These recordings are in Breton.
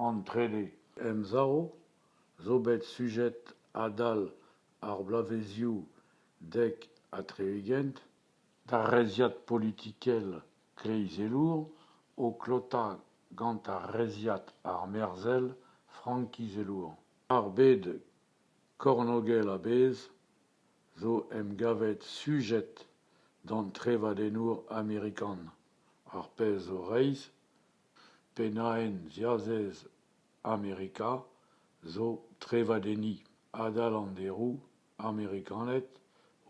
An trede emsav zo bet sujet adal ar bloavezioù dek ha tri-ugent d'ar reizhiad politikel kleizelour o klotañ gant ar reizhiad armerzhel frankizelour. Ar bed kornogel a-bezh zo emgavet sujet d'an trevadennour amerikan, ar pezh zo reizh Pennaenn ziazez Amerika zo trevadenniñ adal an deroù amerikaned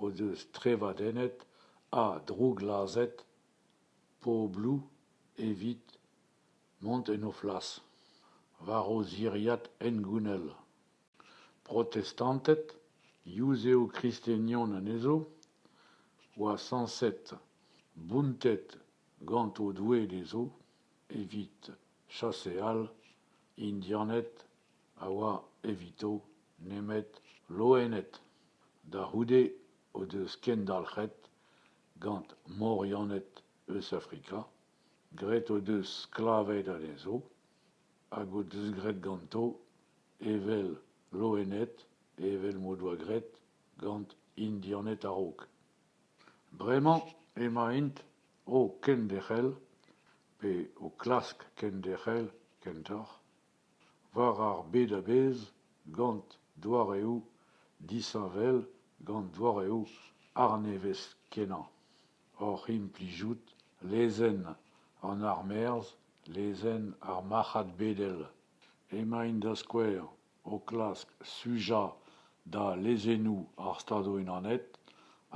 o deus trevadennet ha drouglazhet pobloù evit mont en o flas war o ziriad hengounel. Protestanted, yuzev-kristenion anezho, oa sañset bountet gant o doue dezho evit chaseal Indianed a oa evito nemet loened, da c'houde o deus kendalc'het gant Morianed eus Afrika, graet o deus sklaved anezho. Hag o deus graet ganto evel loened, evel m'o doa graet gant Indianed a-raok. Bremañ emaint o kenderc'hel, pe o klask kenderc'hel kentoc'h, war ar bed a-bezh gant doareoù disheñvel, gant doareoù arnevez-kenañ. oc'h implijout lezenn an armerzh, lezenn ar marc'had bedel. Emaint da skouer o klask sujañ da lezennoù ar Stadoù-Unanet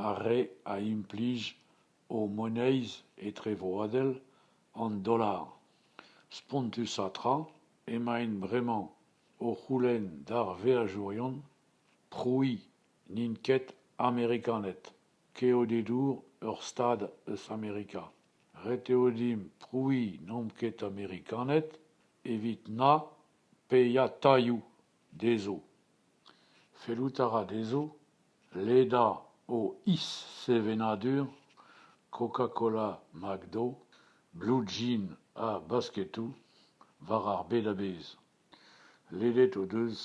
ar re a implij o moneiz etrevroadel an dollar. Spontusañ tra emaint bremañ o c'houlenn d'ar veajourion prouiñ n'int ket Amerikaned. Keodedour ur stad eus Amerika. Ret eo dimp prouiñ n'omp ket Amerikaned evit na paeañ tailhoù dezho. Fellout a ra dezho ledañ o is-sevenadur Coca-Cola McDo, blue jean ha basketoù war ar bed a-bezh. Ledet o deus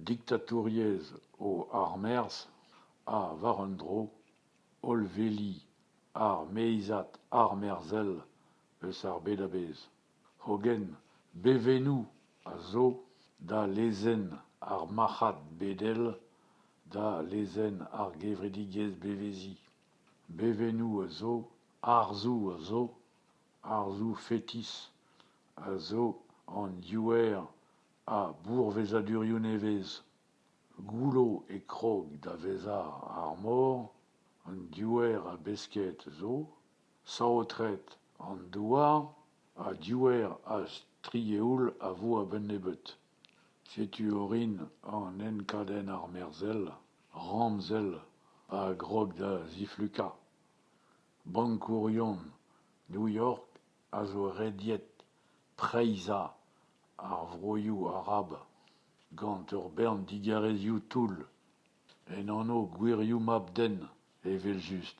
diktatouriezh o armerzh ha, war un dro, hollveli ar meizad armerzhel eus ar bed a-bezh. Hogen bevennoù a zo da lezenn ar marc'had bedel, da lezenn ar gevredigezh beveziñ. Bevennoù a zo, arzoù a zo, Arzoù fetis a zo an diouer a bourvezadurioù nevez. Goullo e krog da vezañ ar mor. An diouer a besked zo, saotret an douar ha diouer a strieoul a vo a-benn nebeut. Setu orin an enkadenn armerzhel ramzel a grog da ziflukañ. Bankourion New York a zo rediet preizhañ ar vroioù arab gant ur bern digarezioù toull, en anv gwirioù mab-den evel-just.